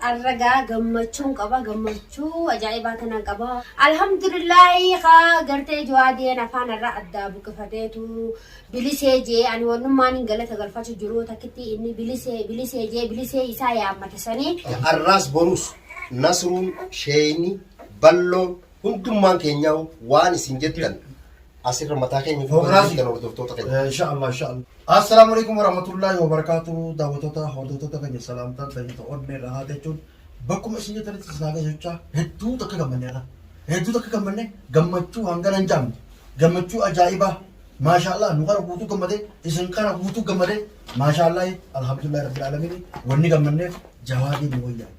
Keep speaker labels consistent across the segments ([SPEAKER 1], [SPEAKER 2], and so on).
[SPEAKER 1] Arra gaa gammachuun qaba gammachuu ajaa'ibaa tanan qaba alhamdulillaahi kaa gartee jawaadeen afaan irraa addaa buqqifateetu bilisee jee ani wannummaan hin galata galfatu jiru takkitti inni bilisee bilisee jee bilisee isaa yaammata sanii Arraas boruus
[SPEAKER 2] Nasruun Sheeyni Balloon Hundummaan keenyaa'u waan isin jettan asirra mataa keenya fuuldura Hooganaasi. jirtan hordoftoota
[SPEAKER 3] keenya. Eh, Insha Allah, insha Allah. Assalaamu alaikum warahmatullahi wabarakatuh. Daawwattoota hordoftoota keenya salaamtaan tajaajila onnee irraa haa jechuun bakkuma isin jirtanitti isin haa gahu jechaa hedduu takka gammanne irra. Hedduu takka gammanne gammachuu hangana hin jaamne. Gammachuu ajaa'ibaa. Maashaallah nu kana guutuu gammadee isin kana guutuu gammadee maashaallah alhamdulillah rabbil alamin wanni gammanneef jawaadii nu wayyaa.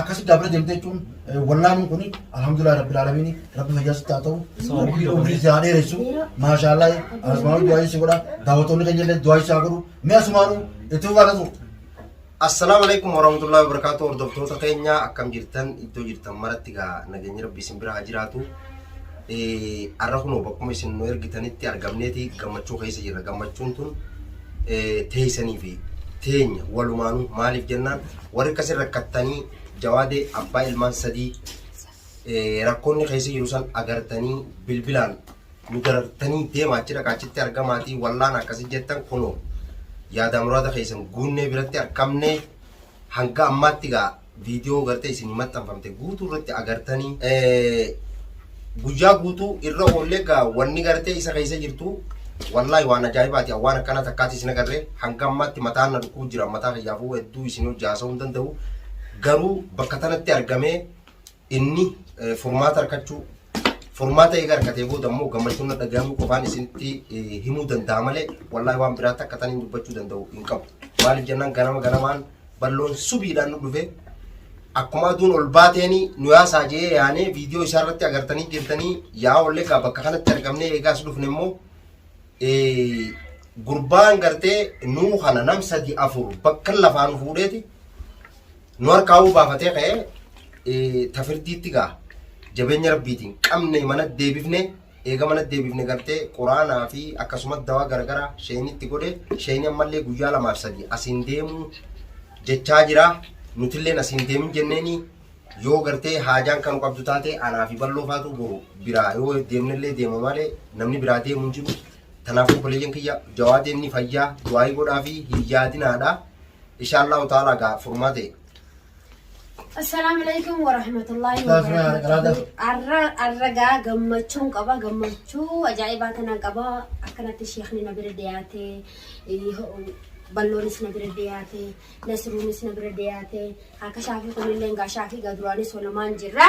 [SPEAKER 3] akkasi dabra demte jechuun wallaanuun kun alhamdulillah rabbil alamin rabbi fayyaa sitti haa ta'u rabbi umrii si haa dheeressu maashaallah asmaa'u du'aayi si godha daawwattoonni keenya illee du'aayi si haa godhu mee asumaanu itti fufaa ta'u Assalamu
[SPEAKER 2] alaikum warahmatullahi wabarakatuh hordoftoota keenya akkam jirtan iddoo jirtan maratti gaa nageenyi rabbii isin bira haa jiraatu Har'a kunoo bakkuma isin nu ergitanitti argamneeti gammachuu keessa jirra. Gammachuun tun teessanii fi teenya walumaanuu maaliif jennaan warri akkasii rakkattanii jawaadee abbaa ilmaan sadii rakkoonni keessa jiru san agartanii bilbilaan nu darartanii deema achi dhaqa achitti argamaatii wallaan akkasii jettan kunoo yaadaa muraada keessan guunnee biratti argamnee Hanga ammaatti egaa viidiyoo gartee isinii maxxanfamte guutuu irratti agartanii guyyaa guutuu irra oollee egaa wanni gartee isa keessa jirtu wallaahi waan ajaa'ibaati waan akkana takkaati isin agarree hanga ammaatti mataan na dhukkuu jira mataa kiyyaafuu hedduu isin hojii haasa'uu hin danda'u garuu bakka tanatti argamee Inni furmaata argachuu furmaata eega argatee booda immoo gammachuun na dhagahamuu qofaan isinitti himuu danda'a malee wallaahi waan biraatti akka taniin dubbachuu danda'u hin qabu. Maaliif jennaan ganama ganamaan balloon subiidhaan nu dhufe akkuma aduun ol baateeni nu yaasaa jee yaanee viidiyoo isaa irratti agartanii jirtanii yaa ollee gaa bakka kanatti argamnee eegaas dhufne immoo gurbaan gartee nuu kana nam sadi afur bakka lafaan fuudheeti nu harkaa uu baafatee ka'ee eh, tafirdiitti gaa jabeenya rabbiitiin qabne mana deebifne eega mana deebifne gartee quraanaa fi akkasumas dawaa garagaraa sheenitti godhe sheeni ammallee guyyaa lamaaf sadii asiin deemuu jechaa jira nutilleen asiin deemin jenneeni yoo gartee haajaan kan qabdu taate anaa fi balloo faatu boru biraa yoo deemnellee deema malee namni biraa deemu hin jiru Kanaafuu obboleeyyan kiyya jawaadeen ni fayyaa du'aayii godhaa fi hin yaadinaadha. Inshaallahu ta'ala gaa furmaate.
[SPEAKER 1] Assalaamu alaikum warahmatullahi wabarakatuh. Arra arra gaa gammachuun qaba gammachuu ajaa'ibaa tanaan qaba akkanatti sheekni na bira dhiyaate balloonis na bira dhiyaate nasruunis na bira dhiyaate akka shaafii kunillee gaa shaafii gaa duraanis olamaan jirra.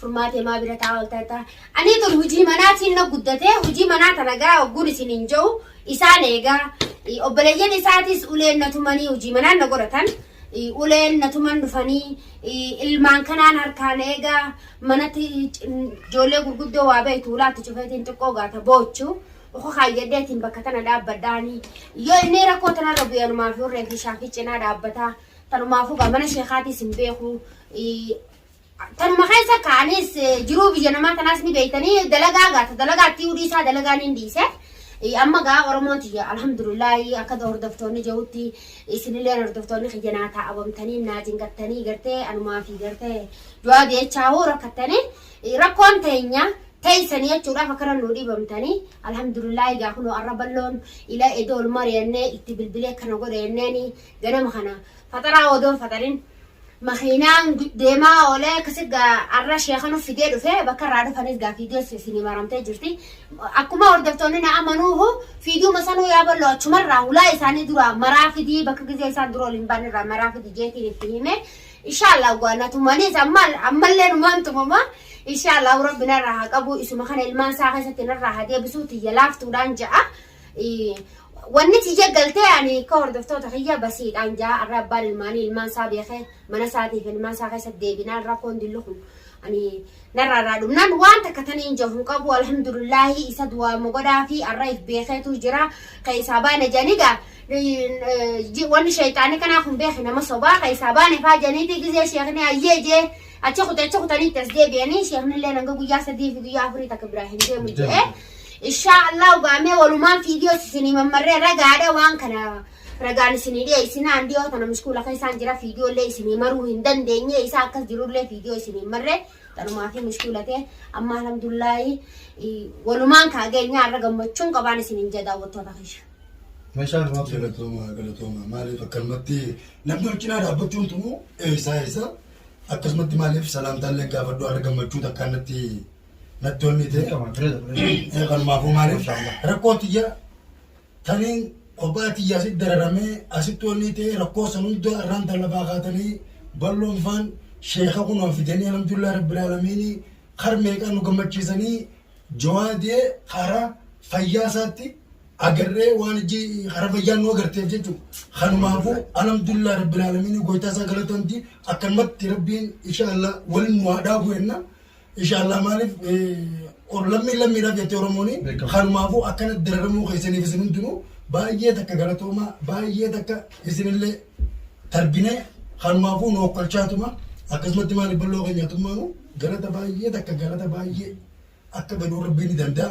[SPEAKER 1] furmaatee maa bira taa'aa olta jettaa anii tun hujii manaatiin na guddatee hujii manaa tana gaa ogguun isin hin ja'u isaan eegaa Eh, obboleeyyan isaatis uleen na tumanii hujii manaan na godhatan Eh, uleen na tuman dhufanii eh, ilmaan kanaan harkaan eegaa manatti c- ijoollee gurguddoo waa beektu ulaatti cufeetiin xiqqoo gaata boochu uku kaayyadeetiin bakka tana dhaabbadhaanii yoo inni rakkoo tanarra bu'anumaa fi urree fi shaafii cinaa dhaabbataa tanumaafuu gaa mana sheekaatis hin beeku Eh, Tanuma keessa kaanis jiruu biyya namaa tanaas ni beektanii dalagaa gaata dalagaatti hudii isaa dalagaa ni dhiise. Amma gaa Oromoon tiyya alhamdulillahi akka hordoftoonni jirutti isinillee hordoftoonni kiyya naa taa'abamtanii naa cinqattanii gartee anumaa fi gartee du'aa deechaa hoo rakkattanii rakkoon teenya teessanii jechuudhaaf akkana nuu dhiibamtanii alhamdulillahi gaa kunoo arra balloon ila edoo ol mari'annee itti bilbilee kana godhe jenneeni ganama kana faxaraa odoon faxarin makiinaan deemaa oolee akkasi arra sheeka nu fidee dhufe bakka irraa dhufanis gaa fiigeessu isinii maramtee jirti. Akkuma hordoftoonni na amanuuhu fiiduuma sanuu yaa ballo achumarraa hulaa isaanii duraa maraa fidii bakka gizee isaan dura ol hin baane irraa maraa fidii jeetiin itti hime. Inshaallah gaa na tumanis ammallee numaan tumama. Inshaallah rabbi narraa haa qabu isuma kana ilmaan isaa keessatti narraa haa deebisuu tiyya laaftuudhaan ja'a. Wanni tiyya galtee ani akka hordoftoota kiyya basiidhaan jaa arra abbaan ilmaanii ilmaan isaa beekee mana isaatiif ilmaan isaa keessa deebinaan rakkoon dillu kun ani narraa irraa dhumnaan waan takka taniin jahu qabu alhamdulillaahi isa du'aa mogodhaa fi arra if beekeetu jira keessaa baana janiga wanni sheexaanii kanaa kun beeke nama sobaa keessaa baane faa janiitii gizee sheekni ayyee jee achi kute achi kutaniitti as deebi'anii sheekni illee hanga guyyaa sadii fi guyyaa afurii takka biraa hin deemu jee Inshaa Allah ugaamee walumaan fiidiyoos isinii mammarree ragaadha waan kana ragaan isinii dhiyeessinaa handi yoo tana muskuula keessaan jira fiidiyoolee isinii maruu hin dandeenye isaa akkas jirullee fiidiyoo isinii marree tanumaa fi muskuula ta'e amma alhamdulillahi walumaan kaageenyaa irra gammachuun qabaan isiniin jedha daawwattoota keessa. Meeshaan
[SPEAKER 3] waan galatooma galatooma
[SPEAKER 4] maaliif akkanumatti namni wal cinaa dhaabbachuun tunu eessaa eessa akkasumatti maaliif salaamtaallee gaafadhu har'a gammachuu takkaannatti natti onnii ta'e kanumaafuu maaliif rakkoon tiyya taniin kophaa tiyya asitti dararamee asitti onnii ta'e rakkoo san hunda irraan dallabaa kaatanii balloon faan sheeka kunoo fidanii alhamdulillah rabbil aalamiini kar meeqaa nu gammachiisanii jawaadee kara fayyaa isaatti agarree waan ijji kara fayyaa nu agarteef jechuudha. Kanumaafuu alhamdulillah rabbil aalamiini goytaa isaa galatamti akkanumatti rabbiin inshaallah waliin nu haa dhaabu jenna. Inshallah maalif or lammii lammiidhaaf jettee Oromooni Beekamu. kanumaafuu akkana dararamuu keessaniif isin hundinuu baay'ee takka galatoomaa baay'ee takka isinillee tarbinee kanumaafuu nu okkolchaatuma akkasumatti maaliif balloo keenyaatummaanu galata baay'ee takka galata baay'ee akka gaduu rabbiin ni danda'a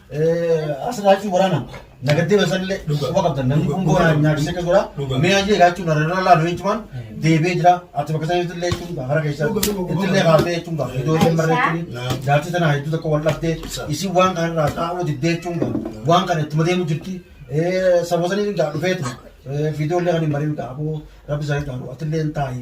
[SPEAKER 3] Asirraa jechuun waraana nagattee basallee quba qabdan namni kun boona nyaachisee akka godha mee ajee gaachuun irra laalu jechuun deebi'ee jira ati bakka sana jechuun illee jechuun hara keessa itti illee kaasee jechuun gaaf iddoo isheen barreessanii jaartii tana hedduu tokko wal dhabdee isin waan kana irraa taa'uu diddee jechuun waan kana itti madeemu jirti saboosanii dhufeetu fiidoo illee kan hin mariin taa'u rabbi isaanii taa'u ati illee hin taa'e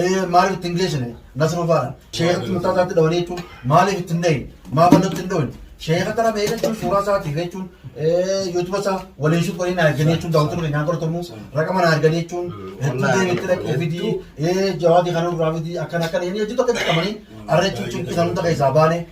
[SPEAKER 3] Ee maaliif ittiin geessine nasruu faana sheekatti murtaa isaatti dhawanii jechuun maaliif ittiin dhahin maa bal'atti hin dhahin sheeka kana mee jechuun suuraa isaatiif jechuun yuutuba isaa waliin shuf waliin arganii jechuun daawwatu dhufe nyaata hortomu raqama na arganii jechuun hedduu deebiitti dhaqee fidii ee jawaadii kana irraa fidii akkana akkana inni hedduu tokko itti qabanii arra jechuun cimpi kan hunda keessaa baane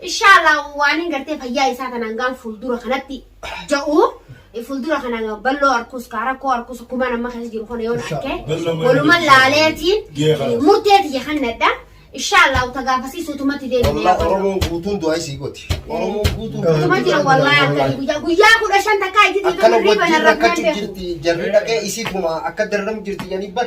[SPEAKER 1] Inshallah waanin gartee fayyaa isaa kanaan gaan fuuldura kanatti ja'u fuuldura kana balloo arkuus kaa rakkoo arkuus kumaan amma keessa jiru kana yoon arke waluman laaleetiin murtee tiyya kannadha. Inshallah uta gaafasii suutumatti deebi'ee. Wallahi Oromoon guutuun
[SPEAKER 2] du'aa isii gooti. Oromoon guutuun Utuma jira wallahi
[SPEAKER 1] akkani guyyaa guyyaa kudha shan takkaa itti akkana dhiitu wajjin rakkachuu
[SPEAKER 2] jirti jarri dhaqee isiituma akka darramu jirti jedhanii bar